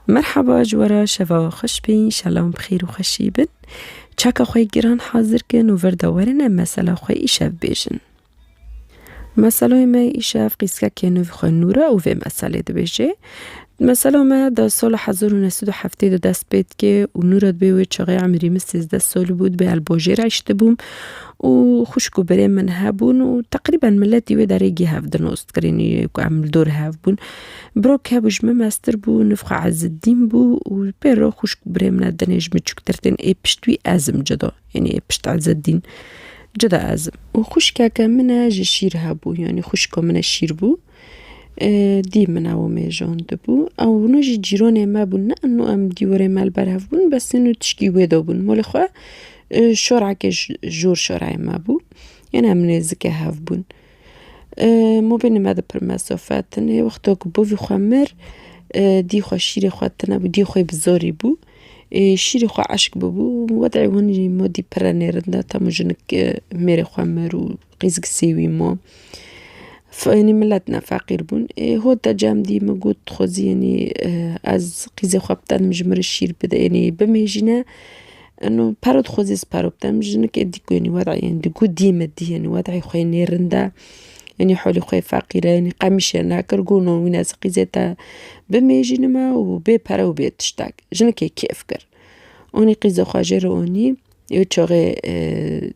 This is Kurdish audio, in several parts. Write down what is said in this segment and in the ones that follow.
Merhaba ji we re şeva we xweş be înşela em bi xêr û xweşî bin. Çaka xwe yê giran hazir kin û vir de werin em mesela xwe îşev bêjin. Meseleyê me yê îşev qîskekê nû vî xwe Nûr e û vê meselê dibêje. Mesela me di sala hezar û neh sed û heftê de dest pê dike û Nûr e di bê wê çaxê emrî min sêzdeh sal bû di bê elbajê re eştibûm û xwişk û birên min hebûn û teqrîben miletî wê derê geh ev di nos dikirîn ku em li dor hev bûn. Brok hebû ji min meztir bû, niv xwe Ezzedîn bû û pêro xwişk û birê min e dinê ji min çûktir tên ê pişt wî ez im cuda yanî ê pişt Ezzedîn cuda ez im. Û xwişkeke min e ji şîr hebû yanî xwişka min e şîr bû dî min ew mêjandibû ew hûna jî cîranê me bûn ne ino em dîwarê me li ber hev bûn bes ino tişkî wê de bûn malê xwe şorekê ji jor şoreyê me bû yanî em nêzikê hev bûn. Mo bê nime di pir mesofe tine. Wexto ku bovî xwe mir, dî xwe şîrê xwe tine bû, dî xwê bi zorî bû. Şîrê xwe eşk bûbû û wedê hûn jî mo dî pire nêrin de temu jinik mêrê xwe mir û qîz gisî wî mo. F'inî milet ne feqîr bûn. Ê hot de cem dî min got xwezî înî ez qîzê xwe bitenim ji mir şîr bide înî bimêjîne. Eno paro di xwe zê siparo bidim, jinikê dî ku yenî wed'ê yenî digo dî min dî yenî wed'ê xwe yê nê rind e, yenî holê xwe yê feqîr e, yenî qemîşê ye nakir got no wî ne ziqî zê te bimêjînime û bê pere û bê tiştek. Jinikê kêf kir. Onî qîzê xwe jê re onî, ê çaxê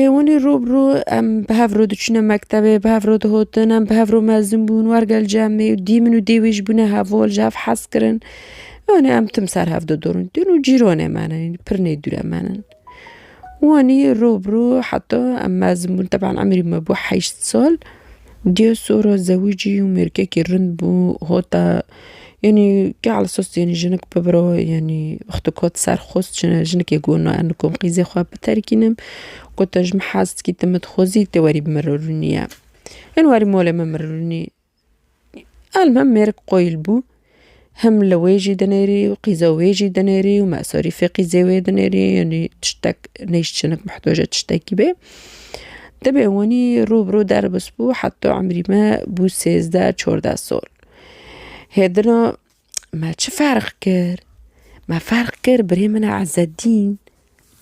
Ê winî rû bi rû em bi hev re diçûne mektebê, bi hev re dihotin, em bi hev re mezin bûn, wergel cemê û dî min û dê wî ji bûne hevol, ji hev hez kirin. Wanê em tim ser hev didurin. Dûn û cîranê me ne, pir nêdûre me ne. Wanî rû bi rû heta em mezin bûn, teban emirî me bû heşt sal. Diyo soro zewicî û mêrkekî rind bû hota yanî ke alsos yanî jinik bibiro yanî wexto kot ser xwest jine jinikê got na em dikom qîzê xwe biterkînim got te ji min hez dikî te min dixwezî te werî bi min re rûnî ye. Hin warî molê min min rûnî. Elmem mêrik qoyil bû. Hem li wê jî dinêrî û qîza wê jî dinêrî û mesarîfê qîzê wê dinêrî yanî tiştek neyşçinik mihtoja tiştekî bê. Dibê wanî rû bi rû derbs bû heta emrî me bû sêzdeh çardeh sal. Hêdina me çi ferq kir? Me ferq kir birê min e Ezzedîn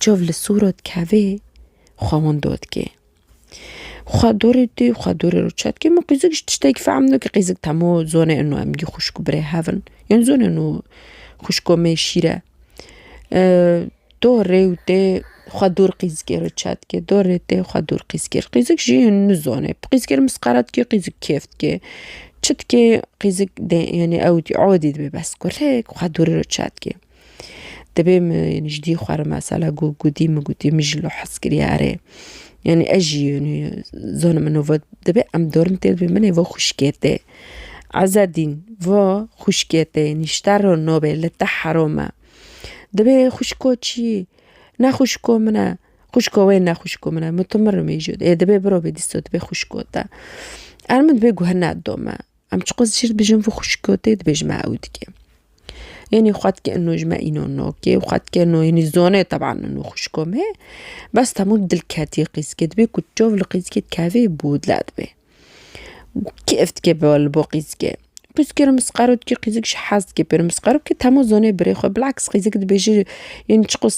çav li sora dikevê xwe wan dot kê. Xwe dorê tê û xwe dorê rû çet kir min qîzik ji tiştekî fehm neke qîzik temo zonê ino em gî xwişk û birê hev in yên zonê ino xwişko me şîr e do rê û tê xwe dor qîzikê re çet kir dor rê tê xwe dor qîzikê re qîzik jî in nizone bi qîzikê re misqala dike qîzik kêf dike çi dike qîzik dê yanê ewdî odî dibe bes kurê xwe dorê re çet kir. Dibê min yanî ji dî xwe re mesela ku gotî min gotî min jî li hez kiriye erê yanî ez jî yanî zana min nava dibê em dorm tê dibê min ê va xwişkê tê Ezedîn va xwişkê tê yanî ji te re nabe li te heram e. Dibê xwişko çi? Ne xwişko min e. Xwişko wê ne xwişko min e. Min tu min re mijûl ê dibê birabê dîsa dibê xwişko te. Erê min dibê guh nedome. Em çiqas ji şîr dibêjin vê xwişkotê dibêjin me ew dike. Enê xwe dike eno ji me îno nokê xwe dike eno enê zone teban eno xwişko me bes temû dilketî qîzikê dibê ku çav li qîzikê dikeve bûdle dibe. Kêf dike li bo qîzikê. Qîzikê re misqero dike qîzik ji hez dike pê re misqero bike temû zonê birê xwe bilaks qîzik dibêje yên çiqas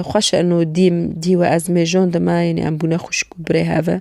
xweş e eno dîm dî we ez mêjon dima enê em bûne xwişk û birê hev e.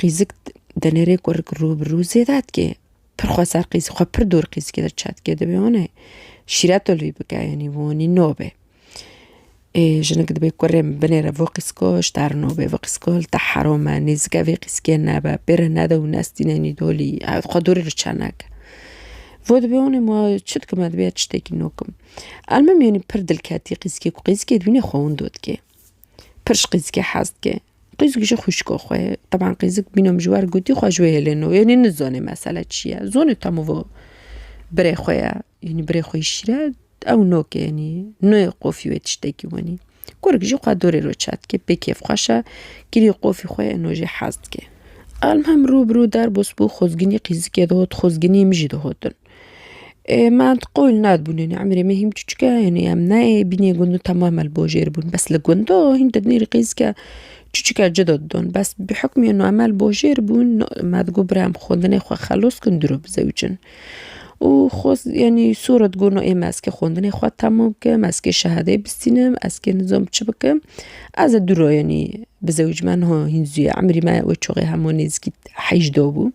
qîzik di nêrê ku rû bi rû zêde dike pir xwe ser qîz xwe pir dûr qîzikê de çet dike divê wan e şîret li wî bike yanî wanî nabe ê jinik divê kurê min binêre vê qîzika ji te re nabe vê qîzika li te heram e nêzike vê qîzikê nebe pê re nede û nestîne yanî dolî ew xwe dûrê li çe neke vê divê wan e ma çi dikim divê ez tiştekî nû bikim elmim yanî pir dilketî qîzikê ku qîzikê divîne xwe winda dike. Pir ji qîzikê hez dike. Qîzik ji xwîşko xwe ye. Teban qîzik bîne min ji wer gotî xwe ji wê hêlê no. Yanî nizane mesele çi ye. Zonê temû birê xwe ye. Yanî birê xwe yî şîr e ew nok e yanî. Nayê qofî wê tiştekî wenî. Kurik jî xwe dorê ro çar dike pê kêfxweş e. Kirî qofî xwe ye no jê hez dike. Elmuhim rû bi rû derbas bû xwezginî qîzikê dihot xwezginî min jî dihot in. Ê me di qol nadibûnê ne emirê me hîn biçûçik e hînê em nayê bînê gundan temam li bo jêr bûn bes li gundo hîn di nirê qîzike çûçik e cida didon bes bi hikmê nu em li bo jêr bûn me di got bira em xwendinê xwe xelos kin dûr bizewicin û xwest yanî sora digot no ê me eskê xwendinê xwe temam bikim eskê şehadê bistînim eskê nizam çi bikim ez ê dûra yanî bizewicime niha hîn zû ye emirî me wê çaxê hema nêzîkî heyş dabû.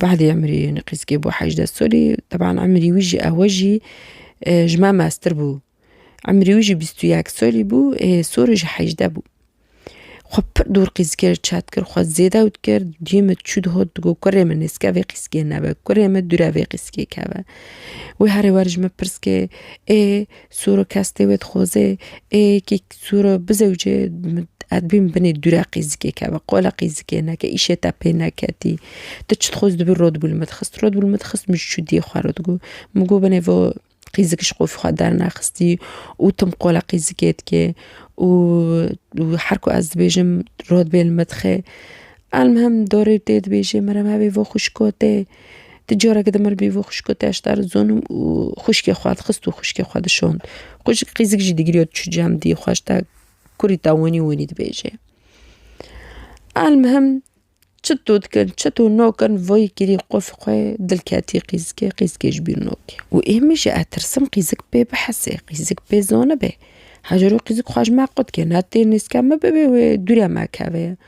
Badê emirî Nqîskê bû hejdeh salî, teban emirî wî jî ewe jî ji me meztir bû. Emirî wî jî bîst û yek salî bû ê sorê jî hejdeh bû. Xwe pir dûr Qîskê re çet kir, xwe zêde ewt kir, duyê min çû digot digot kurê min nêzke vê Qîskê nebe, kurê min dûre vê Qîskê keve. Wê herêwer ji min pirs kê ê Suro kes tê wê dixwaze ê yekê suro bizewce ez bîm binê dûre qîzikê keve qola qîzikê neke îşê te pê neketî tu çi dixwaz dibî rod bû li min dixist rod bû li min dixist min ji çû diyê xwe re digot min got binê vo qîzik ji qofî xwe dernexistî û tim qola qîzikê dikê û her ku ez dibêjim rod bê li min dixe elmihim dorê tê dibêje mere me bê vo xwişko tê Di carekî de mir bîvo xwişko te eşta ri zonim û xwişkê xwe dixist û xwişkê xwe dişond. Xwişk qîzik jî digiriyo diçû cem dî xwe eşta kurî te wenî wenî dibêje. Elmihim çito dikin çito nakin vay kirî qof xwe dil ketî qîzikê qîzikê ji bîr nakê. Û ê min jî ez tirsim qîzik pê bihesê qîzik pê zanibe. Hecero qîzik xwe ji me qut ke ne tê nêzke min bibê wê dûre me keve.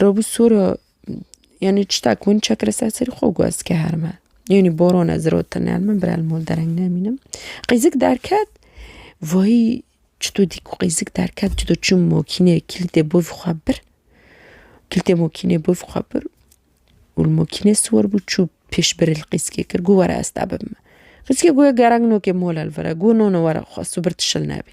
Robû soro yanî çita ku min çekir ser serî xwe û got ez dikiher me. Yanî boran ez rotine herin min birayê li mal dereng nemînim. Qîzik derket vayî çito dî ku qîzik derket çito çûm makîneyê kîlîtê bavê xwe bir kîlîtê makîneyê bavê xwe bir û li makînê siwar bû çû pêş birê li qîzkê kir got were ez te bibime. Qîzkê got gerek nake mala li vir e got nana were xwest û bir tu şil nebî.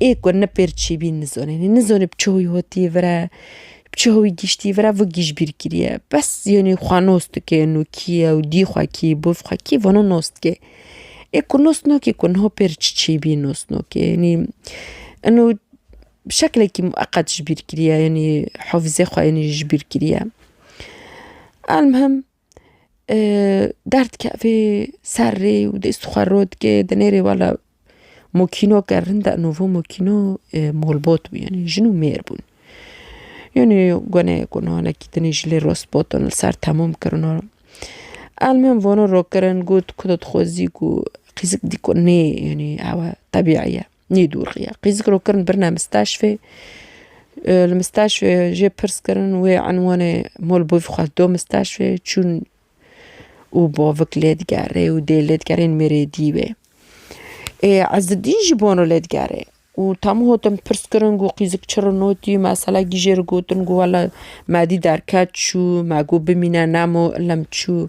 ê ku ne pêr çîbîn nizonê nizonê bi çawi hatîye vir e bi çawi gîştî vir e vi gîjbîr kiriye bes yanî xwe nas dike û kî ye û dî xwe kî bo vi xwe kî vana nas dike ê ku nas nake ku niha pêr çi çîbî nas nake yanî ino bi şeklekî miqet ji bîr kiriye yanî hafizê xwe yanî ji bîr kiriye elmuhim. derdikevê ser rê û dest xwe rû dike di nêrê wala mokîno ke rinda nûvo mokîno molbot bû yanî jin û mêr bûn yanî gonê gunhanekî tenê ji lê rostbetin li ser temûm kirina elmên vano rokirin got ku dixwezî ku qîzik dî ku nê yanî ew e tebî ye. Nê dûr xiya. Qîzik ro kirin birine misteşfê. Li misteşfê jê pirs kirin wê enwanê mol bû xwest do misteşfê çûn û bavik lê digerê û dê lê digerê ên mêrê dî wê. Ê Ezidîn jî bano lê digerê û temû hotin pirs kirin ku qîzik çi rin otî mesela kî jê re gotin ku wela me dî derket çû me got bimîne nemo ilm çû.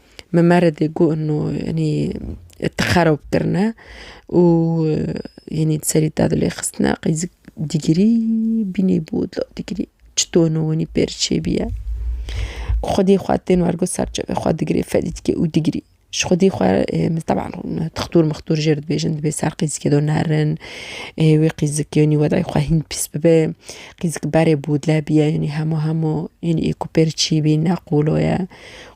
min meredê got no enî ti xerob kirine û enî di serî te dilê xistine qîzik dîgirî bînî bû dilo dîgirî çito no enî pêr çêbîye xwedî xwe tên wergo ser çavê xwe digirê fedî dike û digirî ji xwedî xwe min teban tixtur mixtur jê re dibêjin dibê ser qîzikê de nerin ê wê qîzikê enî wedayê xwe hîn pîs bibe qîzik berê bû dile bîye enî hemû hemû enî ê ku pêr çîbî ne qolo ye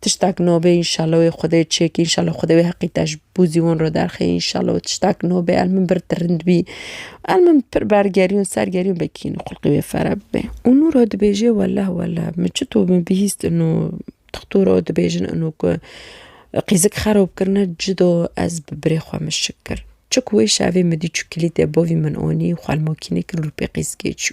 Tiştak nobe inşallah wê xwedê çêk inşallah xwedê wê heqî te ji bo zî wan re derxê inşallah tiştak nobe el min bir tirind bî el min pir bergerîn sergerîn vekî xulqî wê fere bibe û nûra dibêje welleh welleh min çito min bihîst ino dixtora û dibêjin ino ku qîzik xerob kirine cida ez bi birê xwe min şik kir çik wê şevê min dî çû kilîtê bavî min anî xwelmakînê kir lûpê qîzikê çû.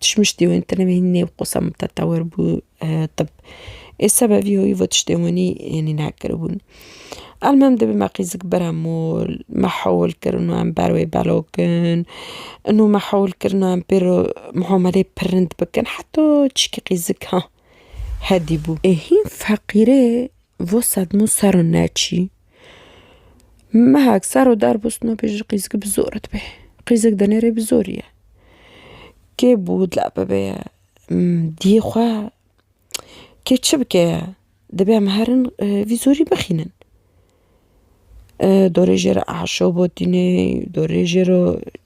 Tişmiştî wê tine wê nêv qosa mutetewir bû tib. Ê seba vî hoyî vo tiştên winî hênî nekiribûn. Elmem dibî me qîzik bira mol, me hewil kirin û em ber wê belokin. Ino me hewil kirina em pê re muameleyê pir rind bikin heta çîkî qîzik ha hedî bû. Ê hîn feqîrê vo sedmo ser o neçî. Mehek ser û der bûsno pê jî qîzikî bi zor e dibê. Qîzik di nêrê bi zorî ye. Kê bû dila bibe ye diyê xwe kê çi bike ye dibê em herin vî zorî bixînin. Dorê jê re aşo botîne dorê jê re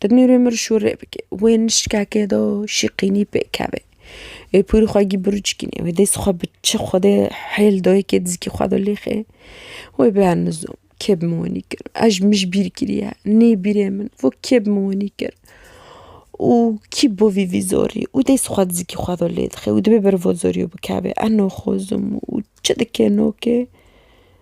Di nûrê mir şûrê bike. Wê nişkeke do şîqînî pêkeve. Wê pûrî xwe gî birûçkînê. Wê dês xwe bi çi xwedê hêl do yekê dizikî xwe do lêxê. Wê bianizo kê bi min wenî kir. Eş mij bîr kiriye. Nê bîrê min vo kê bi min wenî kir. Û kî bo vî vî zorî. Û dês xwe dizikî xwe do lêdixê. Û dibê berivo zorî û bikeve. Eno xozim û çi dikê no kê.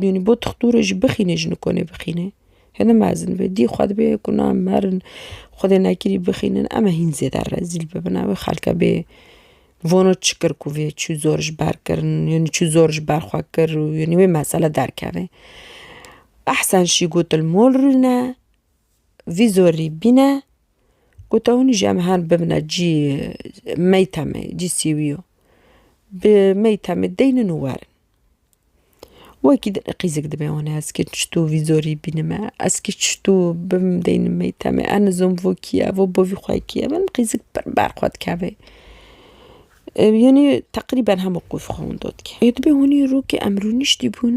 Dûnî bo tixtûrê jî bixînê ji nikonê bixînê. Hêne mezin be dî xwe dibe ku na merin xwedê nekirî bixînin eme hîn zêde rezîl bibin ew ê xelke bê vono çi kir ku vê çû zor ji ber kirin yanî çû zor ji ber xwe kir û yanî wê mesele derkeve. Ehsen şî got il mol rûne vî zorî bîne gote hûnî jî em herin bibine cî meyteme cî sîwî yo bi meyteme deynin û werin. Wekî dilê qîzik dibe wan ez kê çitû vî zorî bînime ez kê çitû bim deynim mêtemê em nizom vo kî ye vo bovî xwe kî ye min qîzik pir ber xwe dikevê yanî teqrîben hemû qûz xwe wendo dike ê dibe hûnî rûkê em rûniştî bûn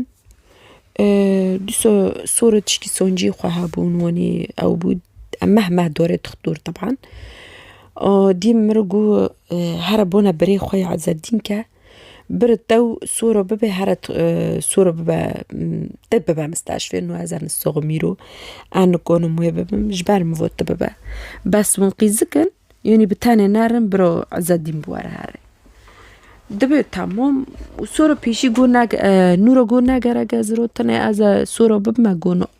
dîsa sor û tişkî soncî xwe hebûn wanî ew bû em meh meh dorê dixtur teban dîm mir û got here bona birê xwe ya Ezedîn ke Bir tew soro bibe here soro bibe te bibe misteşfê nu ez ernı soğu mîro ernı konu muyê bibim ji ber min vot te bibe. Bes win qîzikin yonî bi tenê nerin biro Ezedîn bi were here. Dibe tamam û soro pêşî got nake nûro got nagerek ez rotine ez soro bibime got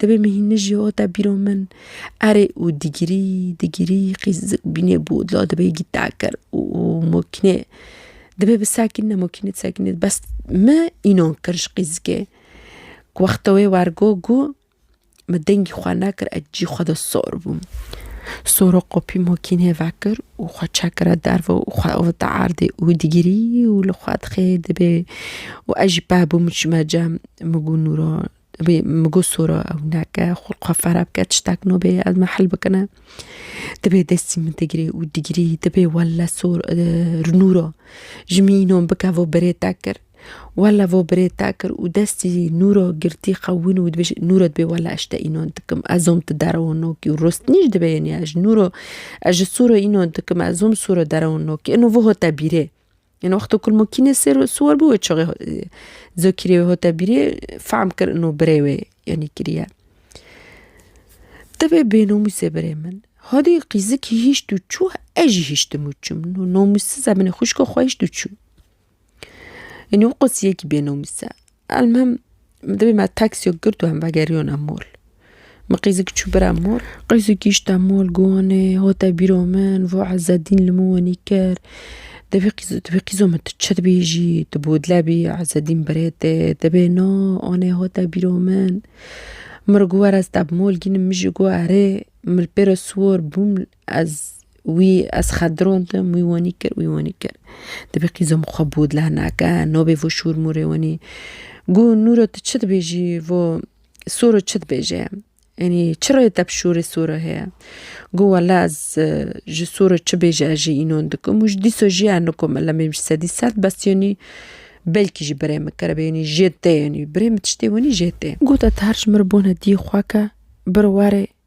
Dibê min hîn nijî hota bîro min. Erê û digirî digirî qîz bînê bodla dibê gî tekir û mokînê dibê bi sekîne mokînê di sekînê de bes min înan kir ji qîzikê. Ku wexta wê wergot got min dengî xwe nekir ez cî xwe de sor bûm. Sora qopî mokînê vekir û xwe çekira derve û xwe avêta erdê û digirî û li xwe dixê dibê û ez jî peh bûm çime cem min got Nûran Divê min got sora ew neke, xwe xwe fere bike tiştek nabê ez me hil bikine. Divê destî min digirê û digirî dibê wele sor nûra ji min înan bike vo birê te kir. Wele vo birê te kir û destî nûra girtî qewimî û dibê nûra dibê wele ez ji te înan dikim ez zam tu derewa nakî û rostinî jî divê yeniya ji nûra ez ji sora înan dikim ez zam sora derewa nakî îno voha te bîrê. Yen wexto kulmokînê sêr û siwar bû wê çaxê zokîrê wê hate bîrê fehm kir ino birê wê yenî kiriye. Ti vê bênomûsê birê min hadî qîzikî hîşt û çû ez jî hiştim û çûm nomûssiz e binê xwişka xwe hişt û çû. Yenî wê qasîyekî bênomûs e. Elmuhim dibê me taksiyek girt û em vegeriyon em mol. Min qîzik çû bir em mol. Qîzik gîşt em mol Guwanê hate bîro min vo Ezedîn li min wenî kir. Dibê qîz dibê qîzo min tu çi dibêjî tu bodle bî Ezedîn birê te dibê na anê hate bîro min. Min re got were ez te bi mol gînim min jî got erê. Min li pê re siwar bûm. Ez wî ez xet dirondim, wî wenî kir, wî wenî kir. Dibê qîzo min xwe bû dila nake, nobê vo şûr mûrê wenî. Gu Nûro tu çi dibêjî vo soro çi dibêje? Enî çi rê te bi şûrê soro heye? Gu wela ez ji soro çi bêje ez jî înon dikim û ji dîso jî ez nikom elemê min ji sedî sed bes yenî belkî jî birê min keribê yenî jê tê yenî. Birê min tiştê wenî jê tê. Got ez her ji min re bûne dî xweke bir warê.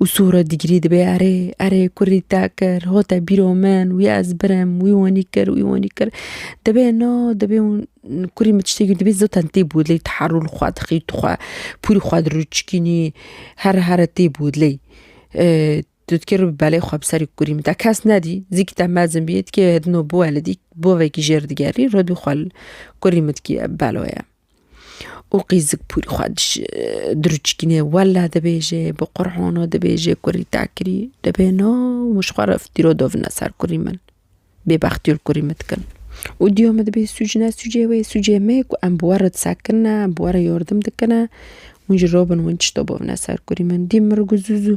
Û sûra digirî dibe erê erê kurî te kir ho te bîro min wî ez birim wî wanî kir wî wanî kir dibe na dibe kurî min tiştekî dibê zaten tê bodlê teherûl xwe dixî tu xwe pûrî xwe dir û çikînî here here tê bodlê tu dikê ribî belê xwe bi serê kurî min te kes nedî zikî te mezin bî dikê hidino biwelidî bavekî jêr digerî ribî xwe kurî min dikî belo ye. Û qîzik pûrî xwe diruçikîne wella dibêje bi qurhana dibêje kurî te kirî dibê no min ji xwe re fîtîro dovine ser kurî min bêbextî li kurî min dikin û dîya min dibê sûcne sûcê wê sûcê me ku em bi we re disekin ne em bi we re yardim dikine hûn ji robin hûn tişta bavne ser kurî min dî min re got zûzû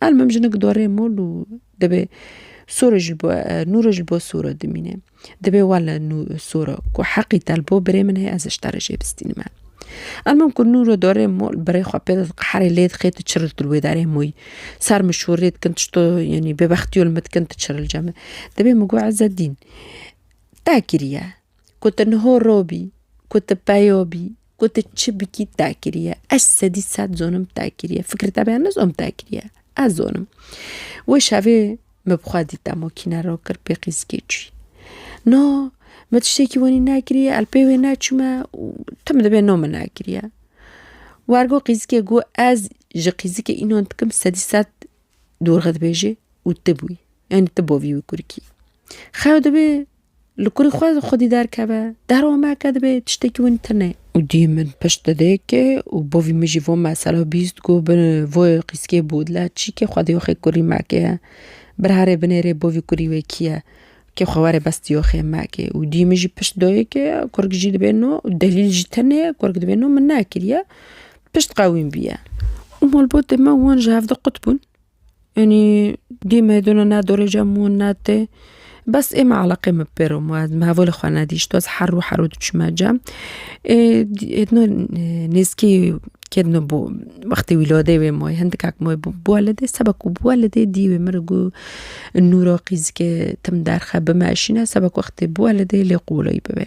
Al mim jinik dorê mol û dibê sore ji bo nûre ji bo sore dimîne. Dibê wa li nû sore ku heqî te li bo birê min heye ez ji te re jê bistînime. Al mim ku nûre dorê mol birê xwe pê didixi herê lê dixê tu çiril tu li wê derê moyî. Ser min şorê dikin tişto yanî bêbextîyo li min dikin tu çiril ce min. Dibê min got Ezzedîn te kiriye ku tu niho robî ku tu peyo bî Ku tu çi bikî te kiriye. Ez sedî sed zonim te kiriye. Fikir te bêya nizom te kiriye. Ez zonim. Wê şevê min bi xwe dîta mokîne ro kir pê qîzikê çûyî. No min tiştekî wenî nekiriye el pê wê neçûme û tu min dibê no min nekiriye. Wergo qîzikê got ez ji qîzikê înan dikim sedî sed dorxe dibêjê û tu bûyî. Yanî tu bovî wî kurikî. Xew dibê Li kurî xwe xwedî derkeve. Deromeke dibe tiştekî wîn tune. Û dî min pişt dide ke û bo vî min jî vo mesela bîst ku bi vo qîskê bû dile çî ke xwedî yoxê kurî mekê ye. Birherê binêrê bo vî kurî wê kî ye ke xwe were bestî yoxê mekê. Û dî min jî pişt doye ke kurg jî dibe no û delîl jî tune kurg dibe no min nekiriye. Pişt qewîm bîye. Û malbatê me wan ji hev du qut bûn. Enî dîme dûna ne dorê cem û ne tê bes ê me eleqê min bi pêro ma ez hevalê xwe nedîşt ez herû herû diçûme cem ê dîno nêzkî ke dino bo wextê wîladê wê ma hindikek ma bo bo weledê seba ku bo weledê dî wê min re got nûra qîzike tim derxe bimeşîne seba ku wextê bo weledê lê qoleyî bibe.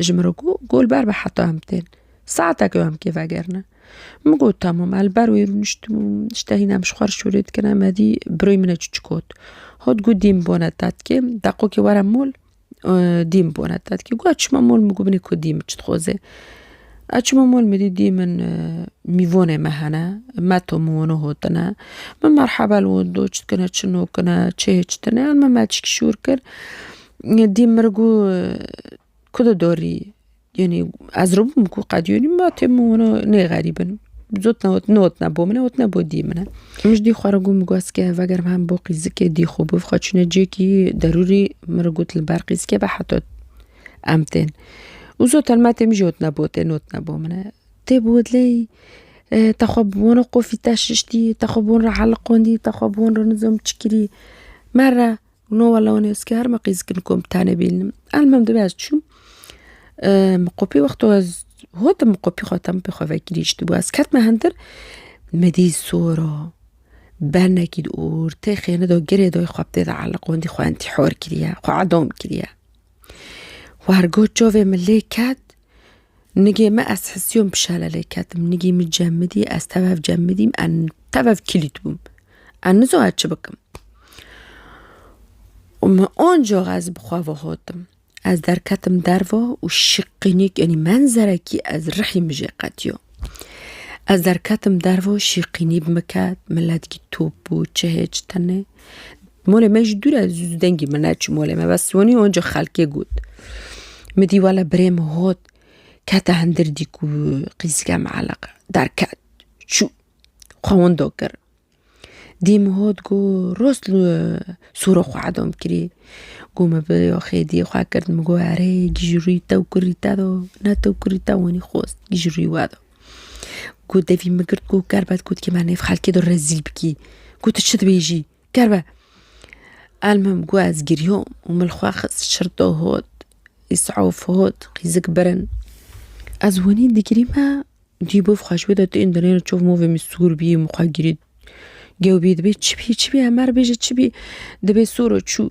Ji min re got, Gol ber be heta em tên. Saetek ew em kê vegerine. Min got, Temam. Ez li ber wê rûniştim û niştehîne em ji xwe re şûrê dikin. Emedî birayê min e çûçik got. Hat got, Dîn bibone tetkê, deqokê were mol dîn bibone tetkê. Got, Ez çûme mol min got, Binê ku dîn min çi dixwaze. Ez çûme mol min dît dîn min mîvonê me hene, meto min wene hotine. Min merhebe li wan got, Çi dikine, çi nakine, çi hêj tine. Min metişkî şûr kir. Dî mir gu ku di dorî yanî ez rûbûm ku qet yanî ma tê min wina nê xerîbin zot newotne bo min e wotne bo dî min e min ji dî xwe re gu min gu ez kê vegerim hem bo qîzikê dî xwe bi xwe çûne cêkî derûrî min re got li ber qîzikê be heta em tên û zot telme tê min jî wotne bo tê newotne bo min e tê bi we dilê te xwe bi wan re qufî te şiştî te xwe bi wan re heliqandî te xwe bi wan re nizam çi kirî me re No wala wan ez kar me qîz kin kom tane bînim. Elmem dibe ez çûm. Min qopî wexto ez hotim min qopî xwe tem pê xwe vekirî ji bo ez ketme hindir me dît sora bernekî di ortê xêni de girê de xwe bi tê de eliqandî xwe entîhar kiriye xwe edam kiriye. War got çavê min lê ket, nigê min ez hisiyon pişale lê ketim, nigê min cemidî ez tev cemidîm tev kîlît bûm. Ez nizanim ez çi bikim. Û min ancax ez bi xwe ve hatim. Ez derketim derve û şiqînik enî menzerekî ez rihî min jê qetiya. Ez derketim derve şîqînî bi min ket, min ledikî top bû çihê çi tenê. Molê me ji dûre dengî min neçû molê me bes wanî onca xelkê got. Min dî wele birê min got kete hindir dî ku qîzike mieleqe derket çû xwe windo kir. Dî min got ku rost li sor xwe edom kirî ku min bi yoxê dî xwe kir min got erê gîj rûyî te û kurî te do ne te û kurî te wanî xwest gîj rûyî we do. Got devî min girt got ker be gotkî me nêv xelkê de rezîl bikî. Got tu çi dibêjî? Ker be. Elmim got ez giriyom û min xwe xist şirdo hot, îsaf hot, qîzik birin. Ez winî digirî me dî bûv xwe ji wê de tên dinê çov movê min sûr bî min xwe girî. Gewbî dibê çi bî çi bî Emer bêje çi bî dibê sor û çû.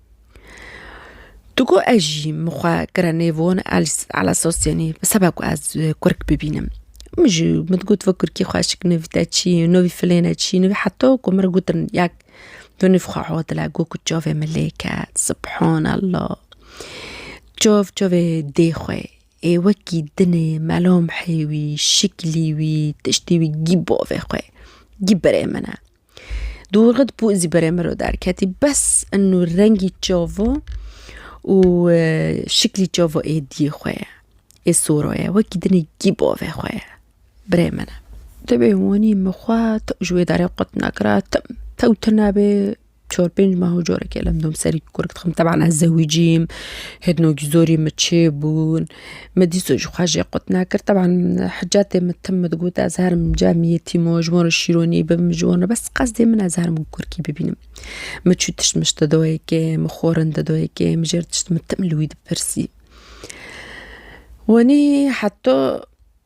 Tu got ez jî min xwe kire nêvon ala sosyonî bi seba ku ez kurk bibînim min jî min digot vê kurkî xweş nivî te çi ye nivî filêne çi ye heta ku min re gotin yek tu nîv xwe hodile got ku çavê min lê ket subhanallah çav çavê dê xwe ye ê wekî dinê melamhê wî şiklî wî tiştî wî gî bavê xwe ye gî birê min e. Dûrxit bû zî berê min re derketî bes eno rengî çavo û şiklî çavo êdîyê xwe ye. Ê sora ye wekî dinê kî bavê xwe ye birê min e. Ti bê wanî min xwe tew ji wê derê qut nekira tim tew tune bê çar pênc meha carekê li dom serî kurek dixim teban ez zewicîm hêdnok zorî min çêbûn. Me dîso ji xwe jê qut nakir. Teban hicatê min tim min digot ez herim cem yetîmo ji wan re şîronî bibim ji wan re bes qesdê min ez herim kurkî bibînim. Min çû tişt min ji te dayê kê min xwarin te dayê kê min jê re tişt min tim li wî dipirsî. Wanî heta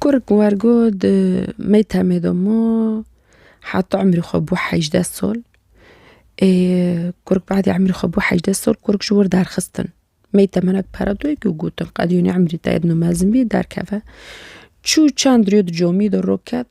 Kur ku wer got Mêtemê domû heta emrê xwe bû hejdeh sal. Ê kur ku badê emrê xwe bû hejdeh sal kur ji wir derxistin. Mêta min eke pere dayik û gotin qedî wî emrî te mezin bî derkeve. Çû çend rû di camî de rû ket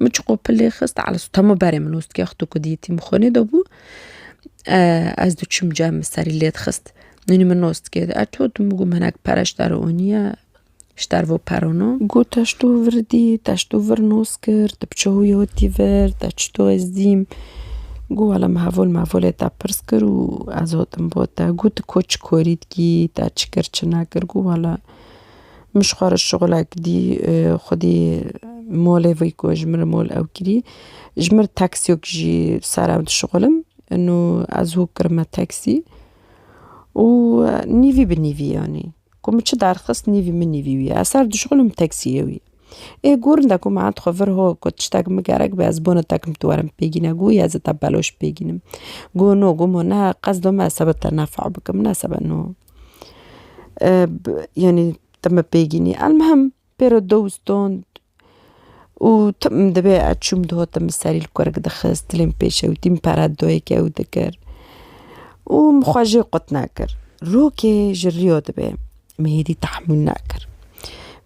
Min çiqo pilê xist Elsu temo berê min ûstîya xwe to ku diyetî min xwenê de bû ez diçûm cem min serî lê dixist. Nûnî min nostikê de er to tu min gûm hinek pere ji te re oniye ji te re vo perono. Got te ji to vir dî te ji to vir nos kir tu bi çawiya wê tî vir te çi to ez dîm got wela min hevol mevolê te pirs kir û ez hatim bo te got tu ko çi korî dikî te çi kir çi nekir got wela Min ji xwe re şixulek dî xwedî molê vî ku ji min re mol ew kirî. Ji min re taksiyok jî sar ew dişixulim. Nû ez hûk kirim me taksî û nîvî bi nîvî yanî ku min çi derxist nîvî min nîvî wî ye. Ez sar dişixulim taksiyê wî. Ê gorinde ku min endixwe vir ho ku tiştek min gerek be ez bona te tu were min pê gîne got ya ez ê te beloş pê gînim. Got no got ma ne qesdo me ez sebe te nefa bikim ne sebe no. Yanî te me pê gînî elmihim pêro dewstan û tim dibe ez çûm di hate min serî li kurik dixist tilên pêşe û tîm pere dayîk ew dikir û min xwe jê qut nekir. Rokê ji riya dibe min hêdî tahmûl nekir.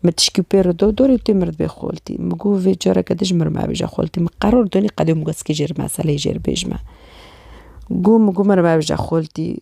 Min tişkî pê re da dorê tu mir dibê xoltî min got vê careke din ji mir mebêje xoltî min qeror danî qedê min got zikê jê re meseleyê jê re bêjme. Got min got mir mebêje xoltî.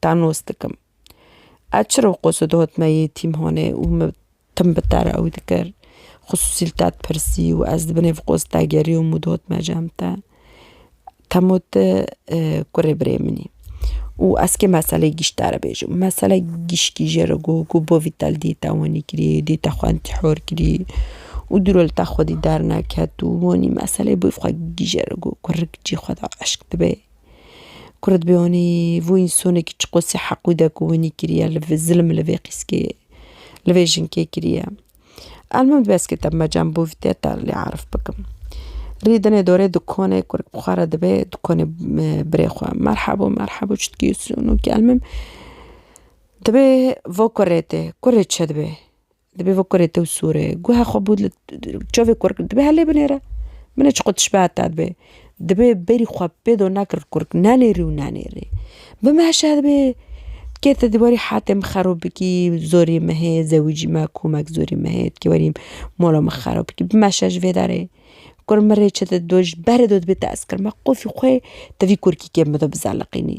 Tanos dikim. Ez çiro qoso dihot me yê tîmhanê û min tim bi te re ew dikir. Xisûsî li te dipirsî û ez li binê vê qos de geriyom û dihot me cem te. Te ma tu kurê birê min î. Û ez kê meseleyê gişt te re bêjim. Mesele gişkî jê re got ku bo vî te li dî te wanî kirî, dî te xwe entî hor kirî û dûro li te xwedî derneket û wanî meseleyê bo vî xwe gî jê re got ku rik cî xwe da eşq dibe. Kurit bi wanî vû însanekî çi qasî heq û dek û winî kiriye li vê zilm li vê qîskê li vê jinkê kiriye. Elmim dibe ez kete bime cem bûv tê te lê erf bikim. Rî dinê dorê dukanê kurik bi xwe re dibe dukanê birê xwe merhebo merhebo çi dikê sunu kelmim dibê va kurê tê kurê çi dibê. Dibê vê kurê tew sûrê. Guhe xwe bû li çavê kurk dibê helê binêre. Binê çiqu tişbehat da dibê. Dibê berî xwe pê do na kir kurk nenêrî û nenêrî. Bi meşe dibê kê te dîwarî hatê min xerab bikî zorî me hê zewicî me komek zorî me hê dikê werî mala min xerab bikî. Bi meşe ji vê derê kur min rê çi dide ji berê do dibê te eskir me qufî xwe te vî kurkî kêm bido bizeliqînî.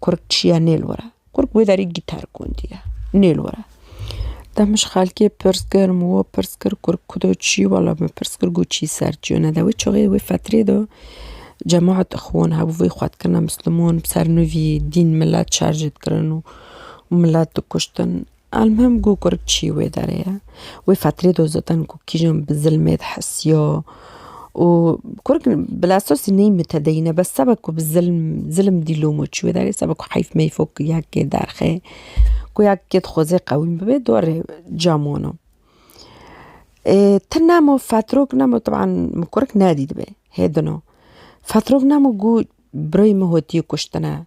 Kurg çiye nê li were. Kurg wê derî gîtar gondiye nê li were. De min ji xelkê pirs kir min we pirs kir kurg kudo çi wela min pirs kir got çî ser çiyo ne de wê çaxê wê fetirê de cemaet ixwan hebû vê xwe dikirine misliman bi ser nûvî dîn milet şer jê dikirin û milet dikuştin. Elmuhim ku kurd çî wê derê ye. Wê fetrê de zaten ku kîjan bi zilmê dihesiya û kurd bila esasî neyê mutedeyîn e bes seba ku bi zilm zilm dîlom û çûye derê seba ku heyf meyf û ya kê derxê ku ya kê dixwaze qewîm bibe dorê ca mano. Ê ti nemo fetrok nemo teban min kurd nedîtibê hê dino. Fetrok nemo ku birayê min hatiye kuştine.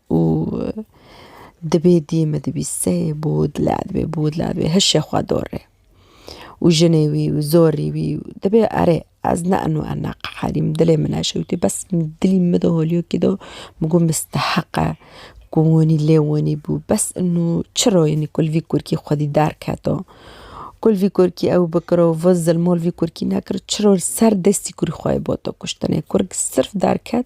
û dibê dî min dibî sey bûd la dibê bûd la dibê hişê xwe dorê û jinê wî û zorî wî dibê erê ez ne enû ena qeherîm dilê min eşewitî bes dilî min bido holiyokê do min got misteheq e ku winî lê winî bû bes enû çiro yenî kul vî kurkî xwedî derketo kul vî kurkî ew bikiro vin zilmol vî kurkî nekir çiro ser destî kurî xwe yê boto kuştinê kurk sirf derket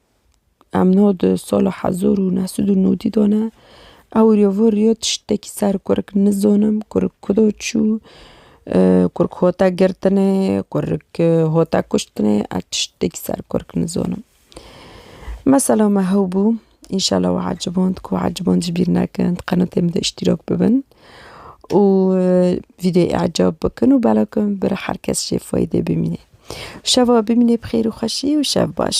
Em no di sala hezar û neh sed û nodî de ne. Ew rê vir rê tiştekî ser kurik nizanim kurik ku de çû, kurik hate girtinê, kurik hate kuştinê ez tiştekî ser kurik nizanim. Mesela me hew bû, înşela we eciband ku eciband ji bîr nekin di qenatê min de îştîrak bibin. û vîdyoyê ecab bikin û belav kin bira her kes jê fayde bimîne. Şeva bimîne bi xêr û xweşî û şev baş.